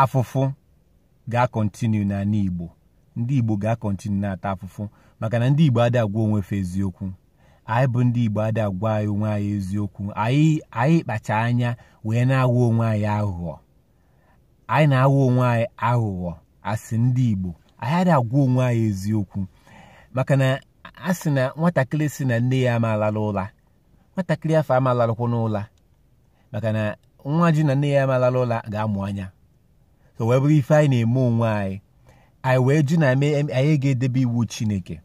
afụfụ ga-continue n'ana Igbo ndị Igbo ga-continue na-ata afụfụ maka na ndị Igbo adịghị agwa onwe fa eziokwu anyị bụ ndị Igbo adịghị agwa anyị onwe anyị eziokwu anyị anyị kpacha anya wee na-aghọ onwe anyị aghụghọ anyị na-aghọ onwe anyị aghụghọ as ndị Igbo anyị adịghị agwa onwe anyị eziokwu maka na a sị na nwatakịrị sị na nne ya ama alala ụla nwatakịrị afụ ama alarụkwanụ ụla maka na nwa sị na nne ya ama alala ụla ga-amụ anya so wee bụrụ ife anyị na-eme onwe anyị anyị wee jụ na anyị ga-edebe iwu chineke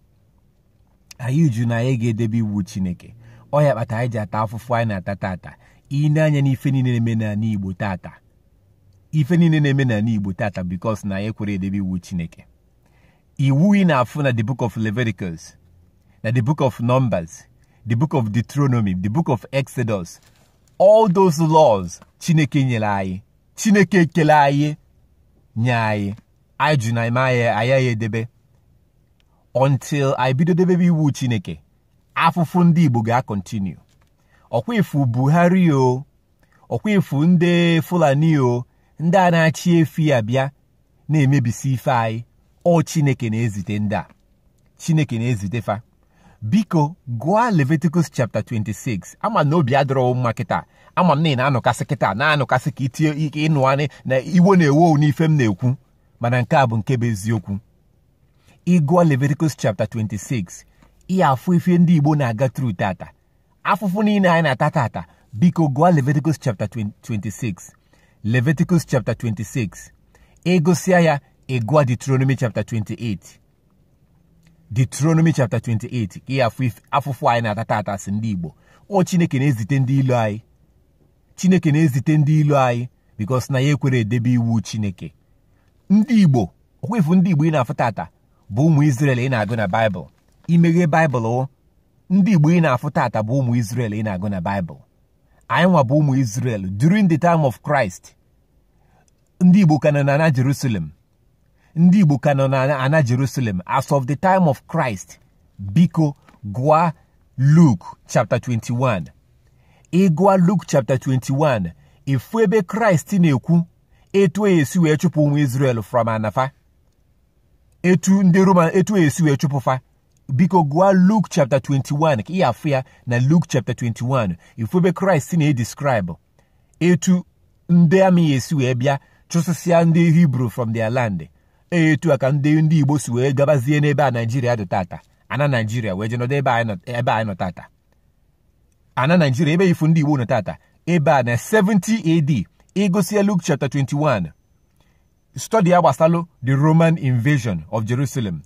anyị jụ na anyị ga-edebe iwu chineke ọ ya kpata anyị ji ata afụfụ anyị na-ata tata i nee anya n'ife niile na-eme n'ana igbo tata ife niile na-eme n'ana igbo tata because na anyị ekwerọ edebe iwu chineke iwu ị na-afụ na the book of Leviticus na the book of Numbers the book of Deuteronomy the book of Exodus all those laws Chineke nyere anyị Chineke kele anyị nye anyị anyị jụ na ime anyị ayaghị edebe until anyị bido debebe iwu Chineke afụfụ ndị Igbo ga-continue ọkwa ị fụ Buhari o ọkwa ị fụ ndị fulani o ndị a na-achị efi abịa na-emebisi ife anyị ọ chineke na-ezite ndị a chineke na-ezite fa biko gụọ leviticus chapter 26 ama m na obi adịrọ mma kịta ama m na ị na-anụkasị kịta na-anụkasị ka itinye ike ịnụ anị na iwe na-ewe n'ife m na-ekwu mana nke a bụ nke bụ eziokwu ị gụọ leviticus chapter 26 ị ya-afụ ife ndị igbo na-aga through tata afụfụ niile anyị na-ata tata biko gụọ Leviticus chapter 26 Leviticus chapter 26 ị gụsịa ya ị gụọ Deuteronomy chapter 28 Deuteronomy chapter 28 ị ya-afụ afụfụ anyị na-ata tata as ndị Igbo ọ Chineke na-ezite ndị ilo anyị Chineke na-ezite ndị ilo anyị because na anyị ekwerọ edebe iwu Chineke ndị Igbo ọkwa ị fụ ndị Igbo ị na-afụ tata bụ ụmụ Izrel ị na-agụ na Baịbụl i meghee Baịbụl o ndị Igbo ị na-afụ tata bụ ụmụ Izrel ị na-agụ na Baịbụl anyị nwa bụ ụmụ Izrel during the time of Christ ndị Igbo ka nọ na ana Jerusalem ndị Igbo ka nọ na ana Jerusalem as of the time of Christ biko gụọ Luke chapter 21 ị gụọ Luke chapter 21 ị fụ ebe Kraịst na-ekwu etu a ya-esi wee chụpụ ụmụ Izrel from ana fa etu ndị Roman etu e si wee chụpụ fa biko gụọ Luke chapter 21 ka ị ya-afụ ya na Luke chapter 21 ị fụ ebe Kraịst na-edescribe etu ndị amị ya-esi wee bịa chụsịsịa ndị Hibru from their land e, etu a ka ndị ndị Igbo si wee gabazie n'ebe a Naijiria dị tata ana Naijiria wee jenọdụ ebe anyị nọ tata ana Naijiria ebe ị fụ ndị Igbo nọ tata ebe a na 70 AD ị gụsịa Luke chapter 21 study ya gbasalụ the roman invasion of jerusalem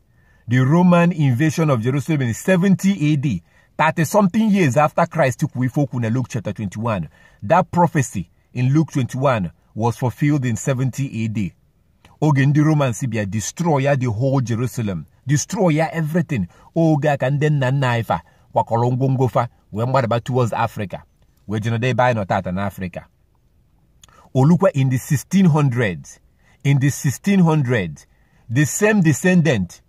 the roman invasion of jerusalem in 70 ad 30 something years after christ kwuo ife o kwu na luke chapter 21 that prophecy in luke 21 was fulfilled in 70 ad oge ndị romans bịa destroy ya the whole jerusalem destroy ya everything oge a ka ndị nna nna anyị fa kwakọrọ ngwongwo fa wee gbadaba towards africa wee jenọdụ ebe anyị nọ tata n'afrịka o lukwa in the 1600s in the 1600s the same descendant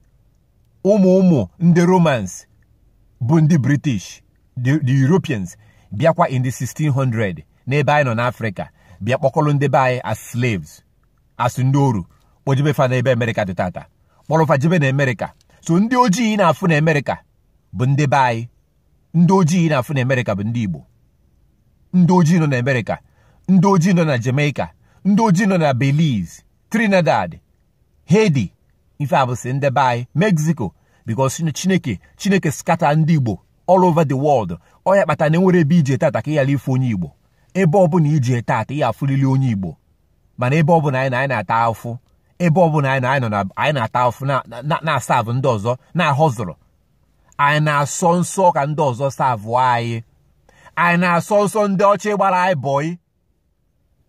ụmụ ụmụ ndị romans bụ ndị british the, the europeans bịakwa in the 1600 n'ebe anyị nọ n'afrịka bịa kpọkọrọ ndị be anyị as slaves as ndị oru kpọjebe fa n'ebe amerịka dị tata kpọrọ fa jebe na amerịka so ndị ojii ị na-afụ na amerịka bụ ndị be anyị ndị ojii ị na-afụ na Amerịka bụ ndị Igbo ndị ojii nọ na Amerịka ndị ojii nọ na Jamaica ndị ojii nọ na Belize Trinidad Haiti ife a bụsị ndị be anyị Mexico because Chineke Chineke skata ndị Igbo all over the world ọ ya kpata na enwerọ ebe ị je tata ka ị ghara ịfụ onye Igbo ebe ọbụla ị je tata ị ya-afụlịlị onye Igbo mana ebe ọbụla anyị nọ anyị na-ata afụfụ ebe ọbụla anyị na anyị nọ na anyị na-ata afụfụ na-asavụ ndị ọzọ na-ahọzụrụ anyị na-asọ nsọ ka ndị ọzọ savụ anyị anyị na-asọ nsọ ndị ọcha ịgbara anyị bọị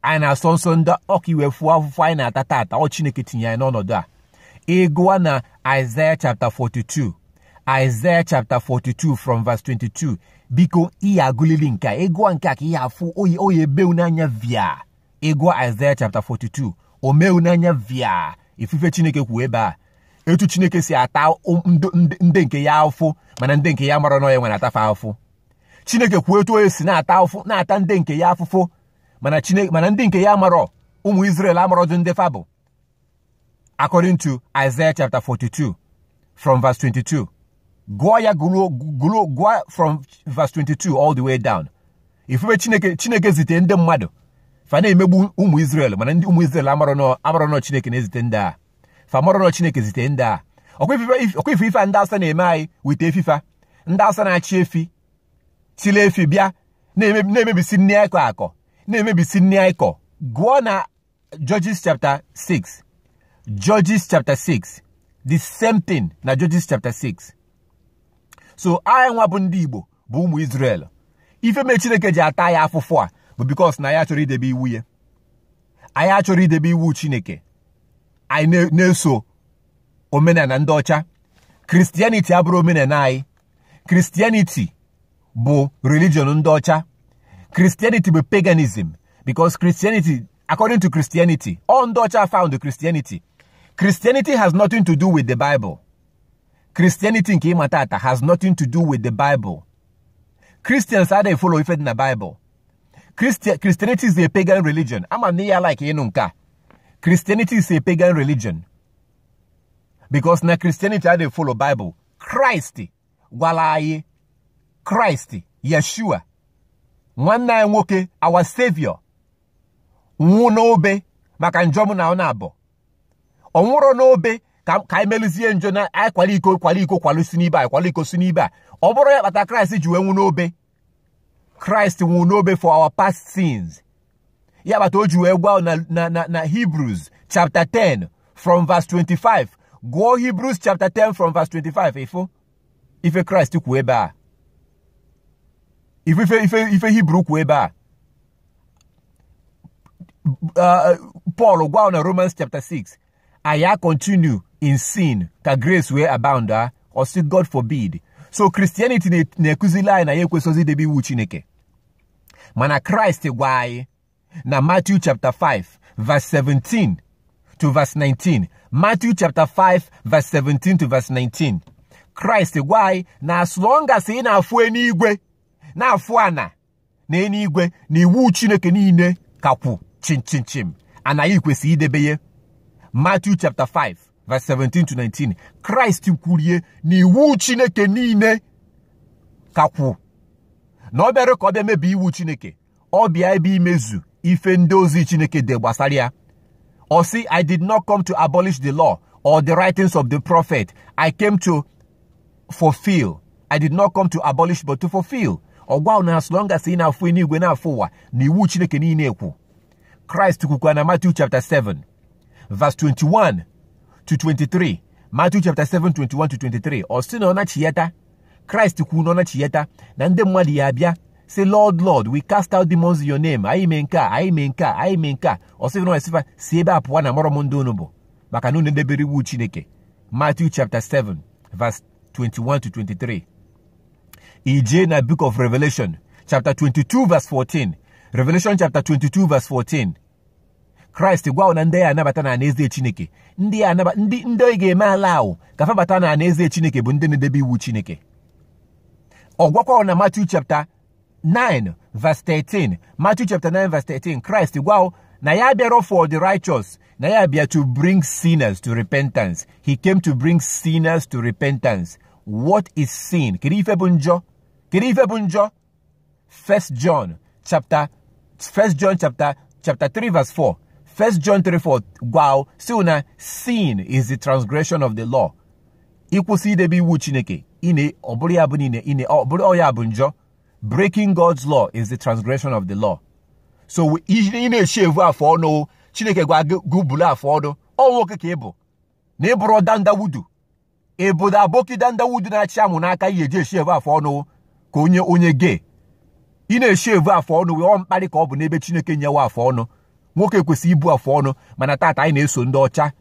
anyị na-asọ nsọ ndị ọ ka ị wee fụọ afụfụ anyị na-ata tata ọ Chineke tinye anyị n'ọnọdụ a ị gụa na Isaiah chapter 42 Isaiah chapter 42 from verse 22 biko ị ya-agụlịlị nke a ị gụa nke a ka ị ya-afụ ọ ya ọ ya-ebe wu n'anya via ị gụọ Aịzaya chapta 42 o mee wu n'anya via ị fụ ife Chineke kwu ebe a etu Chineke si ata ndị nke ya afụfụ mana ndị nke ya amarọ na ya nwa na-ata fa afụfụ Chineke kwuo etu onye si na-ata afụ na-ata ndị nke ya afụfụ mana Chineke mana ndị nke ya amarọ ụmụ Izrel amarọdụ ndị fa bụ according to Isaiah chapter 42 from verse 22 gụọ ya gụọ from verse 22 all the way down ị fụ ebe chineke chineke zite ndị mmadụ fa na-emegbu ụmụ Israel mana ndị ụmụ Israel amarọ na ọ chineke na-ezite ndị a fa amarọ na ọ chineke zite ndị a ọ kwa ị fụ ife ndị Awụsa na-eme anyị with efi fa ndị Awụsa na-achị efi chịlị efi bịa na-emebisi nni a kọ akọ na-emebisi nni a kọ gụọ na Judges chapter 6 Judges chapter 6 the same thing na Judges chapter 6 so anyị nwa bụ ndị Igbo bụ ụmụ Israel ife mee Chineke ji ata anyị afụfụ a bụ because na anyị achọrọ idebe iwu ya anyị achọrọ idebe iwu chineke anyị na-eso omenana ndị ọcha Christianity abụrọ omenana anyị Christianity bụ religion ndị ọcha Christianity bụ paganism because Christianity according to Christianity ọ ndị ọcha found Christianity Christianity has nothing to do with the Bible Christianity nke ị ma taata has nothing to do with the Bible Christians adịghị follow ife dị na Bible Christianity is a pagan religion ama m na ya like ịnụ nke a Christianity is a pagan religion because na Christianity adịghị follow Bible Christ gwalụ anyị kraịst yeshua nwanne anyị nwoke our savior nwụ n'obe maka njọ mụ na ọ naabọ ọ nwụrọ n'obe ka anyị meluzie njọ na anyị kwalụ iko kwalụ iko kwalụ si n'ibe anyị kwalụ iko si n'ibe a ọ bụrọ ya kpata kraịst ji wee nwụ n'obe kraịst nwụ n'obe for our past sins ya kpata o ji wee gwa na na na na hebrews chapter 10 from verse 25 gụọ hebrews chapter 10 from verse 25 ị fụ ife kraịst kwu ebe a ife ife ife hebrew kwu ebe a uh, Paul gwa na Romans chapter 6 anyị ya continue in sin ka grace wee abound a ah, ọ sị God forbid so Christianity na-ekụzili anyị na anyị ekwesọzi idebe iwu Chineke mana Kraịst gwa anyị na Matthew chapter 5 verse 17 to verse 19 Matthew chapter 5 verse 17 to verse 19 Kraịst gwa anyị na as long as ị na-afụ enuigwe na-afụ ana na enuigwe na iwu chineke niile ka kwụ chimchimchim na anyị kwesị idebe ya Matthew chapter 5 verse 17 to 19 kraịst kwuru ya na iwu chineke niile ka kwụ na ọ bịarọ ka ọ bịa mebie iwu chineke ọ bịa ebe imezu ife ndị ozi chineke de gbasara ya ọ sị i did not come to abolish the law or the writings of the prophet i came to fulfill i did not come to abolish but to fulfill ọ gwa na as long as ị na-afụ enuigwe na-afụ ụwa na iwu chineke niile kwụ kraịst kwukwa na matthew chapter 7 verse 21 to 23 matthew chapter 7 21 to 23 ọ sị na ọ nachiyata kraịst kwuru na ọ nachiyata na ndị mmadụ ya-abịa sị lord lord we cast out demons in your name anyị mee nke a anyị mee nke a anyị mee nke a ọ sịrị na ọ sị fa si ebe a pụwa na amarọ m ndị unu bụ maka na unu edebero iwu chineke Matthew chapter 7 verse 21 to 23 i jee na book of Revelation chapter 22 verse 14 Revelation chapter 22 verse 14 kraịst gwa na ndị ya anabata na anaeze chineke ndị ya anaba ndị ndị ọ ya ga-eme allow ka fa bata na anaeze chineke bụ ndị na-edebe iwu chineke ọ gwakwa na Matthew chapter 9 verse 13 Matthew chapter 9 verse 13 Christ gwawo na ya bịara for the righteous na ya bịa to bring sinners to repentance he came to bring sinners to repentance what is sin kedu ife bụ njọ kedu ife bụ njọ first john chapter first john chapter chapter 3 verse 4 first john 3 4 gwawo si na sin is the transgression of the law ịkwụsị idebe iwu chineke ine ọbụrụ ya bụ niile ine ọbụrụ ọya bụ njọ breaking God's law is the transgression of the law so ị na-eshave afọ ọnụ chineke gwa gị bulu afọ ọnụ ọ nwoke ka ị bụ na ị bụrọ dan daudu obodo aboki dan daudu na-achị amụ n'aka ihe e ji eshave afọ ọnụ ka onye onye gay ị na-eshave afọ ọnụ wee ọ mkparị ka ọ bụ n'ebe chineke nyewe afọ ọnụ nwoke kwesịrị ibu afọ ọnụ mana taata anyị na-eso ndị ọcha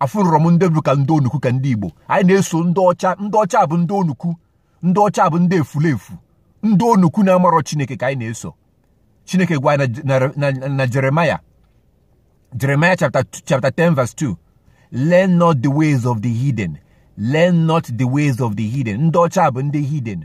afụnurọ m ndị bụ ka ndị onukwu ka ndị igbo anyị na-eso ndị ọcha ndị ọcha bụ ndị onukwu ndị ọcha bụ ndị efulefu ndị onukwu na-amarọ chineke ka anyị na-eso chineke gwa na Jeremiah Jeremiah chapter 10 verse 2 learn not the ways of the heathen learn not the ways of the heathen ndị ọcha bụ ndị heathen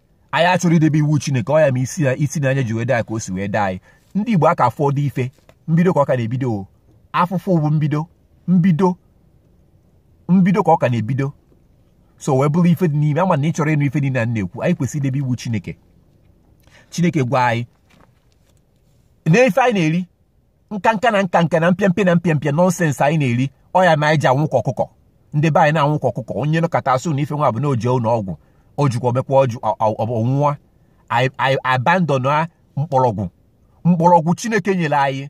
anyị achọrọ idebe iwu chineke ọ ya ma isi ya isi na anya ji wee daa ka o si wee daa anyị ndị igbo aka afụrọ ife mbido ka ọ ka na-ebido afụfụ bụ mbido mbido mbido ka ọ ka na-ebido so wee bụrụ ife dị n'ime ama na ị chọrọ ịnụ ife niile a na-ekwu anyị kwesịrị idebe iwu chineke chineke gwa anyị na ife anyị na-eri nkanka na nkanka na mpịampịa na mpịampịa nonsense anyị na-eri ọ ya ma anyị ji anwụ ka ọkụkọ ndị be anyị na-anwụ ka ọkụkọ onye nọkata a sị na ife nwa bụ na o jee ụlọ ọgwụ o jikwa omekwa ọjụ ọnwụwa anyị abandon a mkpọrọgwụ mkpọrọgwụ chineke nyere anyị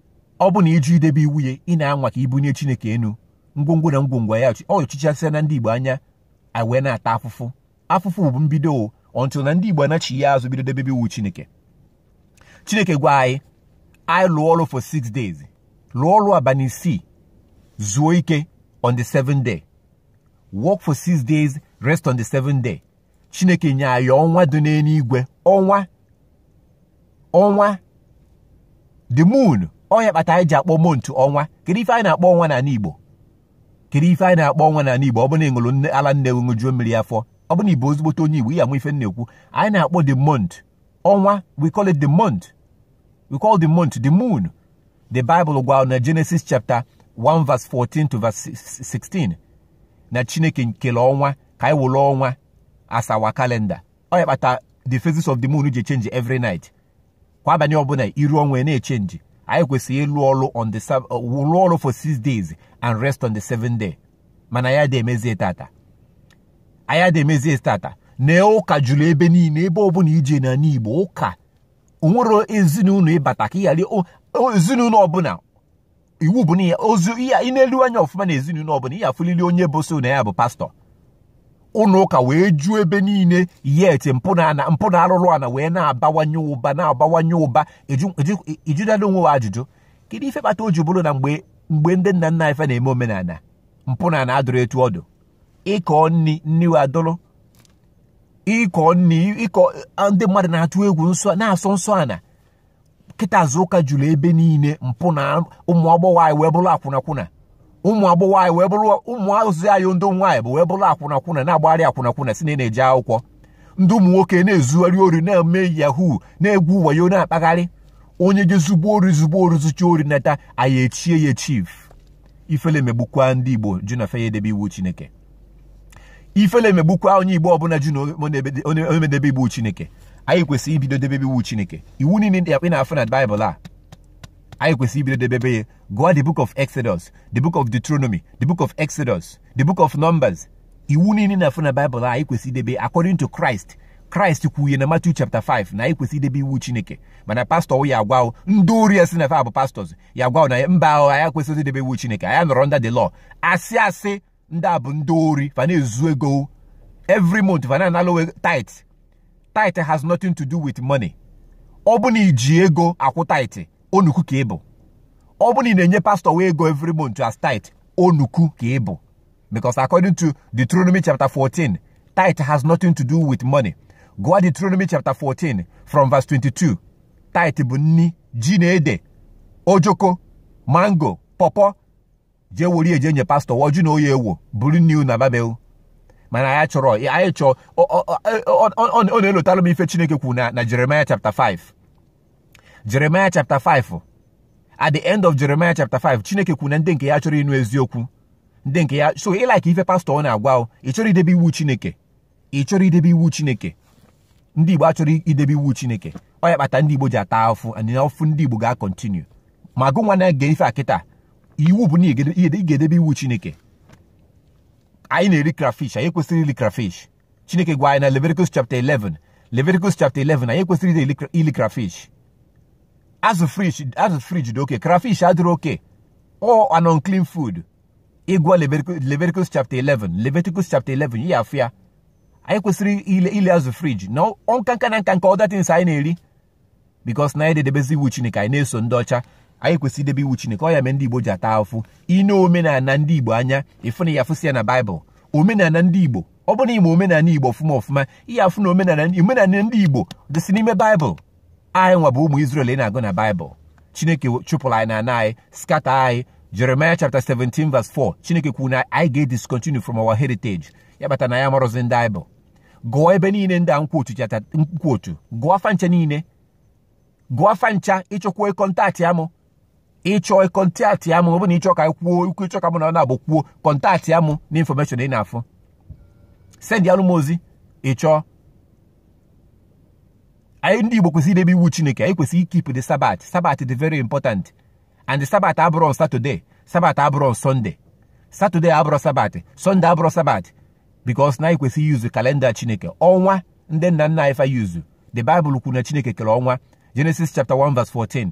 ọ bụ na ịjụ idebe iwu ya ị na-anwa ka ibunye Chineke enu ngwongwo na ngwongwo ya anọchichasịana ndị Igbo anya wee na-ata afụfụ afụfụ bụ mbido until na ndị Igbo anachia azụ bido debebe iwu Chineke Chineke gwa anyị anyị lụọ ọrụ for six days lụọ ọrụ abalị isii zuo ike on the seventh day work for six days rest on the seventh day chineke nye anyị ọnwa dị n'eluigwe ọnwa ọnwa the moon ọ nya kpata anyị ji akpọ month ọnwa kedu ife anyị na-akpọ ọnwa n'ala igbo kedu ife anyị na-akpọ ọnwa n'ala igbo ọ bụ na ị ṅụrụ ala nne ṅụjuo mmiri afọ ọ bụ na ị bụ ezigbote onye igbo ya anụ ife na-ekwu anyị na-akpọ the month ọnwa we call it the month we call the month the moon the bible gwa na genesis chapter 1 verse 14 to verse 16 na chineke kele ọnwa ka anyị wolu ọnwa as our calendar ọ ya kpata the phases of the moon ji change every night kwa abalị ọbụla iru ọnwa na-echenji anyị kwesịrị ịlụ ọlụ on the uh, lụọ ọlụ for six days and rest on the seventh day mana anyị adị emezie tata anyị adị emezie tata na ụka juru ebe niile ebe ọbụla i jena n'Igbo ụka o nwere ezinụlọ ị bata ka ị ghara ezinụlọ ọbụla iwu bụ na ya ozu ihe i nelu anya ọfụma na ezinụlọ ọbụla ị ya-afụlịlị onye bụ so na ya bụ pastọ ụlọ ụka wee juo ebe niile yet mpụ na ana mpụ na arụrụ ana wee na-abawanye ụba na-abawanye ụba ị jụtala onwe gụ ajụjụ kedu ife kpata o ji bụrụ na mgbe mgbe ndị nna nna anyị fa na-eme omenala mpụ na ana adụrọ etu ọ dụ ụkọ nri nri wa adụrọ ụkọ nri ụkọ ndị mmadụ na-atụ egwu nsọ na-asọ nsọ ana kịta azụ ụka juru ebe niile mpụ na ụmụ agbọghọ anyị wee bụrụ akwụnakwụna ụmụ agbọghọ anyị wee bụrụ ụmụazị anyị ndị nwaanyị bụ wee bụrụ akwụnakwụna na-agbagharị akwụnakwụna sị na ị na-eje akwụkwọ ndị ụmụ nwoke na-ezugharị ori na-eme yahoo na-egwu wayo na-akpagharị onye je zugbuo ori zugbuo ori zucha ori nata anyị echie ya chief ifele megbukwa ndị igbo jụ na fa ya-edebe iwu chineke ifele megbukwa onye igbo ọbụla jụ na nya ama edebe iwu chineke anyị kwesịrị ibido debebe iwu chineke iwu niile ndị a ị na-afụ na baịbụl a anyị kwesịrị ibido debebe ya gụọ the book of exodus the book of deuteronomy the book of exodus the book of numbers iwu niile na-afụ na baịbụl a anyị kwesịrị idebe according to christ kraịst kwuye na Matthew chapter 5 na anyị kwesịrị idebe iwu chineke mana pastọ ya-agwa gụ ndị ori a sị na fa bụ pastọs ya-agwa gụ na mba o anyị ekwesịrọ idebe iwu chineke anyị anọrọ under the law asị asị ndị a bụ ndị ori fa na-ezu ego every month fa na-analụ gụ tithe tithe has nothing to do with money ọ bụ na i ji ego akwụ tithe onuku ka ị bụ ọ bụ na ị na-enye pastọ gụ ego every month as tithe onuku ka ị bụ because according to Deuteronomy chapter 14 tithe has nothing to do with money gụọ Deuteronomy chapter 14 from verse 22 tithe bụ nni ji na ede ojoko mango pọpọ jee woru ji je nye pastọ gụ ọ jụ na ọ ya-ewo buru nni gụ naba be gụ mana anyị achọrọ anyị chọọ ọ na-elotalụ m ife chineke kwuru na na Jeremiah chapter 5 Jeremiah chapter 5 at the end of Jeremiah chapter 5 chineke kwuru na ndị nke ya achọrọ ịnụ eziokwu ndị nke ya so ị like ife pastọ gụ na-agwa gụ ị chọrọ idebe iwu chineke ị chọrọ idebe iwu chineke ndị igbo achọrọ idebe iwu chineke ọ ya kpata ndị igbo ji ata afụ and afụ ndị igbo ga-continue ma gụ nwa na-ege ife a kịta iwu bụ na ị ga-edebe iwu chineke anyị na-eri crayfish anyị ekwesịrọ iri crayfish chineke gwa anyị na leviticus chapter 11 leviticus chapter 11 anyị ekwesịrọ iri crayfish azụ fridge dị okay crayfish adịrọ okay ọ an unclean food ịgụọ Leviticus chapter 11 Leviticus chapter 11 ị ya-afụ ya anyị ekwesịrọ ili ili azụ fridge na nkanka na nkanka other things anyị na-eri because na anyị ada edebezi iwu chineke anyị na-eso ndị ọcha anyị kwesịrị idebe iwu chineke ọ ya mee ndị igbo ji ata afụfụ i nee omenala ndị igbo anya ị fụ na ị ya-afụsị ya na baịbụl omenala ndị igbo ọ bụrụ na ị ma omenala igbo ọfụma ọfụma ị ya-afụ na omenala ndị igbo dịsị n'ime baịbụl anyị nwa bụ ụmụ Israel ị na-agụ na Baịbụl Chineke chụpụrụ anyị na ana anyị scatter anyị Jeremiah chapter 17 verse 4 Chineke kwuru na anyị ga-ediscontinue from our heritage ya kpata na anyị amarọzi ndị anyị bụ gụọ ebe niile ndị a m quote gụa fa ncha niile gụa fa ncha ị chọkwa kọntaktịa mụ ị chọọ kọntaktịa m ọ bụ na ị chọ ka kwuo okwu ị chọ ka mụ na ị naabọ kwuo kọntaktịa m na information ị na-afụ sendịalụ m ozi ị chọọ anyị ndị Igbo kwesịrị idebe iwu Chineke anyị kwesịrị ikeep the Sabbath Sabbath dị very important and the Sabbath abụrọ on Saturday Sabbath abụrọ on Sunday Saturday abụrọ Sabbath Sunday abụrọ Sabbath because na anyị kwesịrị iyuzu kalenda Chineke ọnwa ndị nna nna anyị fa yuzu the Bible kwuru na Chineke kere ọnwa Genesis chapter 1 verse 14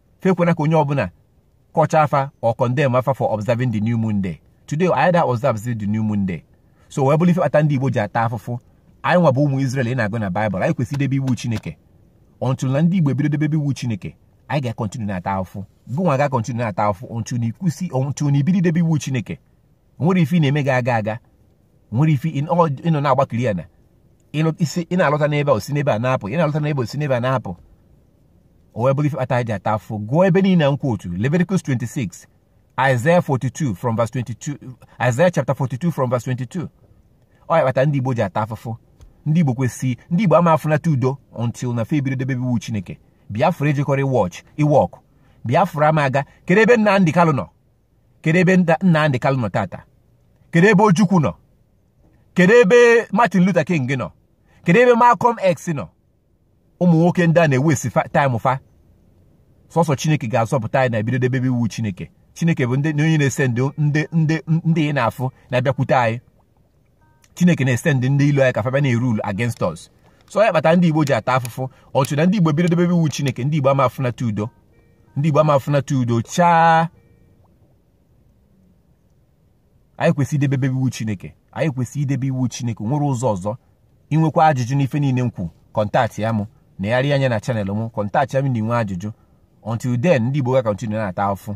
fa ekwena ka onye ọbụla kọchaa fa or condemn fa for observing the new moon day today anyị ada observe the new moon day so wee bụrụ ife kpata ndị Igbo ji ata afụfụ anyị nwa bụ ụmụ Israel ị na-agụ na Baịbụl anyị kwesịrị idebe iwu Chineke until na ndị Igbo ebido debe iwu Chineke anyị ga-akọntinu na-ata afụfụ gụnwa ga-akọntinu na-ata afụfụ until na ị kwụsị until na i bido idebe iwu Chineke o nwerọ ife ị na-eme ga-aga aga o nwerọ ife ị nọ na-agbakiri ya na isi ị na-alụta n'ebe a o si n'ebe a na-apụ ị na-alụta n'ebe a o si n'ebe a na-apụ o wee bụrụ ife kpata anyị ji ata afụfụ gụọ ebe niile m quote Leviticus 26 Isaiah 42 from verse 22 Isaiah chapter 42 from verse 22 ọ ya kpata ndị Igbo ji ata afụfụ ndị Igbo kwesịrị ndị Igbo ama afụnata udo until na fa ebido debe iwu Chineke Biafra ejekọrọ iwọch iwọkụ Biafra ama aga kedu ebe Nnamdi Kanu nọ kedu ebe Nnamdi Kanu nọ tata kedu ebe Ojukwu nọ kedu ebe Martin Luther King nọ kedu ebe Malcolm X nọ ụmụ nwoke ndị a na-ewaste time fa sọsọ chineke ga-azọpụta anyị na ebido debe iwu chineke chineke bụ onye na-esend ndị ndị ị na-afụ na-abịakwute anyị chineke na-esend ndị ilo anyị ka fa bịa na-erule against us so ya kpata ndị igbo ji ata afụfụ until na ndị igbo bido dobebe iwu chineke ndị igbo ama afụnata udo ndị igbo ama afụnata udo chaa anyị kwesịrị idebebe iwu chineke anyị kwesịrị idebe iwu chineke o nwerọ ụzọ ọzọ i nwekwa ajụjụ n'ife niile m kwu kọntaktịa mụ negharịa anya na channel m kọntaktịa m ma i nwee ajụjụ until then ndị igbo ga-akọntinu na-ata afụfụ